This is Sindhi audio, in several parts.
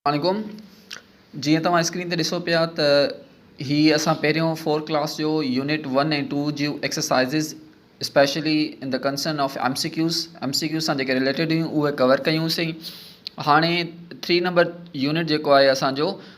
عليڪم جيئن توهان اسڪرين تي ڏسو پيا ته هي اسان پهريون فور ڪلاس جو يونٽ ون ۽ ٽو جي exercises specially in the concern of M C Qs M C Qs سان جيڪي ريليٽيڊ هيون اهي ڪور ڪيونسين هاڻي ٿري نمبر يونٽ جيڪو آهي اسانجو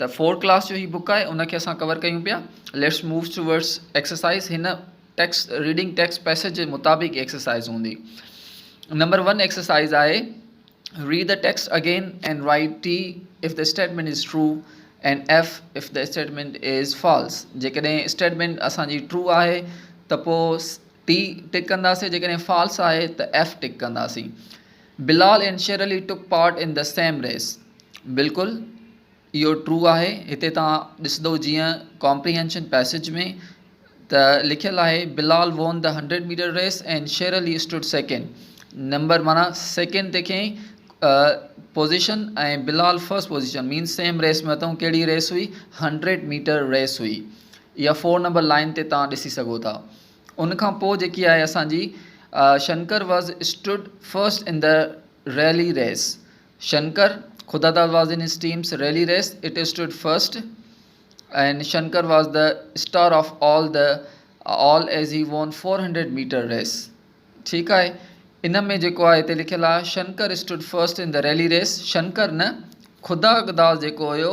ته فور ڪلاس جو هي بڪ آهي ان کي اسان ڪور ڪيون پيا ليٽس موو ٽوورڊس ايڪسرسائز هن ٽيڪس ريڊنگ ٽيڪس پيسيج جي مطابق ايڪسرسائز هوندي نمبر ون ايڪسرسائز آهي read the text again and write T if the statement is true and F if the statement is false جيڪڏهن اسٽيٽمنٽ اسانجي ٽرو آهي ته پوء ٽي ٽڪ ڪنداسين جيڪڏهن فالس آهي ته ايف ٽڪ ڪنداسين Bilal and Shirley took part in the same race بلڪل اهو ٽرو آهي هتي توهان ڏسندو جيئن ڪامپريهينشن پيسيج ۾ ته لکيل آهي Bilal won the hundred metre race and Shirley stood second number معنيٰ سيڪنڊ تي کيئي position ۽ Bilal first position means same race ۾ اٿئون ڪهڙي ريس هئي هنڊريڊ ميٽر ريس هئي اها فور نمبر لائين تي توهان ڏسي سگهو ٿا ان کان پوء جيڪي آهي اسان جي Shankar was stood first in the relay race Shankar Khuda Dad was in his teams relay race it stood first and Shankar was the star of all the all as he won four hundred metre race ٺيڪ آهي ان ۾ جيڪو آهي هتي لکيل آهي Shankar stood first in the relay race Shankar نه خدا داد جيڪو هيو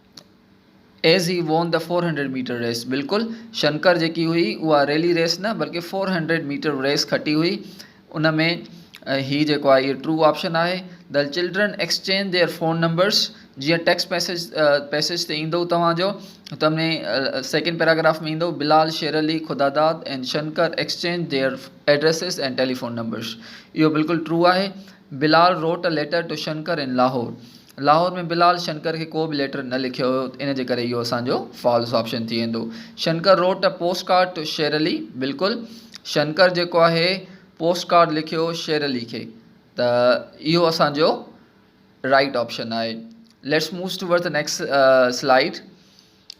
as he won the four hundred metre race بلڪل شنڪر جيڪي هئي اها ريلي ريس نه بلڪه فور هنڊريڊ ميٽر ريس کٽي هئي ان ۾ هي جيڪو آهي ٽرو آپشن آهي the children exchange their phone numbers جيئن ٽيڪس پيسيج پيسيج تي ايندو توهان جو تم ۾ سيڪنڊ پيراگراف ۾ ايندو Bilal Sher Ali Khuda Dad and Shankar exchange their addresses and telephone numbers اهو بلڪل ٽرو آهي Bilal wrote letter to Shankar in Lahore Lahore ۾ Bilal Shankar کي ڪو به ليٽر نه لکيو هيو ان جي ڪري اهو اسان جو فالس آپشن ٿي ويندو Shankar wrote a post card to Sher Ali بلڪل شنڪر جيڪو آهي پوسٽ ڪارڊ لکيو شير علي کي ته اهو اسان جو رائٽ آپشن آهي ليٽس مووز ٽو ورڊ ته next slide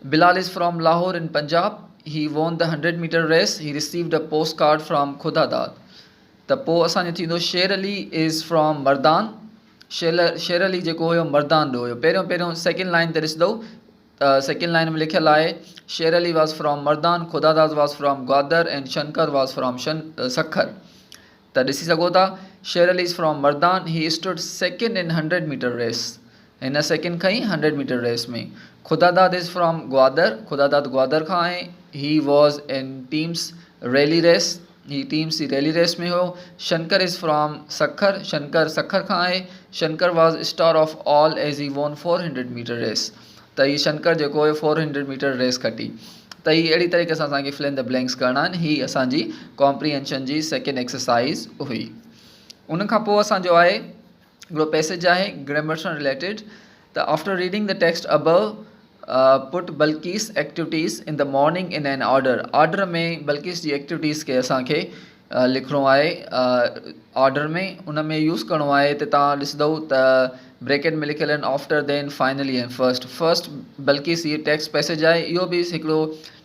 Bilal is from Lahore in Punjab. He won the hundred metre race. He received a post card from Khuda Dad. ته پوء اسان جو ٿيندو شير علي از فرام مردان. شير علي جيڪو هيو مردان ڏو هيو. پهريون پهريون سيڪنڊ لائن تي ڏسدئو ته سيڪنڊ لائن ۾ لکيل آهي Sher Ali was from Mardan Khuda Dad was from Gwadar and Shankar was from Sukkur ته ڏسي سگهو ٿا Sher Ali is from Mardan he stood second in hundred metre race هن سيڪنڊ کنئي hundred metre race ۾. Khudadad is from Gwadar, Khudadad Gwadar کان آهي. He was in teams relay race, هي ٽيمس جي ريلي ريس ۾ هيو. شنڪر از فرام سکر، شنڪر سکر کان آهي. Shankar was star of all as he won four hundred metre race, ته هي شنڪر جيڪو هيو فور هنڊريڊ ميٽر ريس کٽي. ته هي اهڙي طريقي سان اسان کي فل ان دي بلينڪس ڪرڻا آهن، هي اسان جي ڪامپريهنشن جي سيڪنڊ ايڪسرسائز هئي. ان کان پوء اسان جو آهي. هڪڙو پيسيج آهي گرامر سان رليٽيڊ ته after reading the text about Bilqis activities in the morning in an order order ۾ Bilqis جي ايڪٽوٽيز کي اسان کي لکڻو آهي آرڊر ۾ ان ۾ يوز ڪرڻو آهي ته تان ڏسندو ته بريڪيٽ ۾ لکيل آهن after then finally and first first Bilqis هي ٽيڪسٽ پيسيج آهي اهو به هڪڙو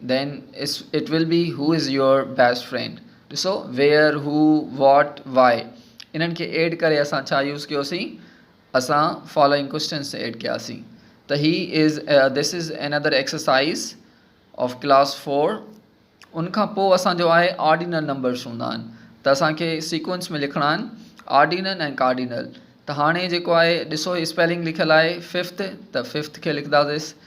Then it will be who is your best friend ڏسو where who what why انهن کي ايڊ ڪري اسان ڇا يوز ڪيوسين اسان فالوئنگ ڪوشچنس ايڊ ڪياسين ته هي is this is another exercise of class four ان کان پوء اسانجو آهي آرڊينل نمبرس هوندا آهن ته اسانکي سيڪوئنس ۾ لکڻا آهن آرڊينل ۽ ڪارڊينل ته هاڻي جيڪو آهي ڏسو هي اسپيلنگ لکيل آهي ففٿ ته ففٿ کي لکنداسين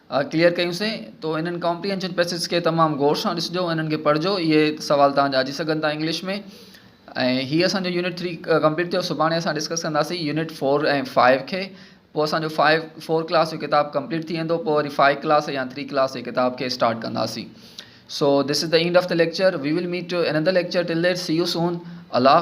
اهي ڪليئر ڪيون سين تو انهن ڪامپريهنشن پئسيجز کي تمام غور سان ڏسجو ۽ انهن کي پڙهجو اهي سوال توهان جا اچي سگهن ٿا انگلش ۾ ۽ هي اسان جو يونٽ ٿري ڪمپليٽ ٿيو سڀاڻي اسان ڊسڪس ڪنداسين يونٽ فور ۽ فائيو کي پوء اسان جو فائيو فور ڪلاس جو ڪتاب ڪمپليٽ ٿي ويندو پوء وري فائيو ڪلاس يا ٿري ڪلاس جي ڪتاب کي اسٽارٽ ڪنداسين so this is the end of the lecture we will meet to another lecture till there see you soon Allah